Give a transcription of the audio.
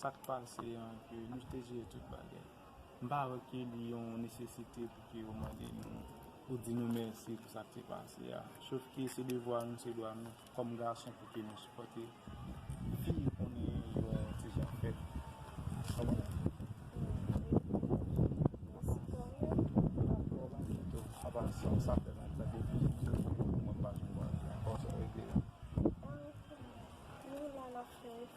Sa k pase an ke nou te jere tout bagay. M pa wè ke li yon nesesite pou ke yo mande nou pou di nou mèsi pou sa k te pase a. Sof ke se devwa nou, se dwa nou kòm gason pou ke nou sipòte fi nou konnen yo ti jan fèb. Kòman ou ye?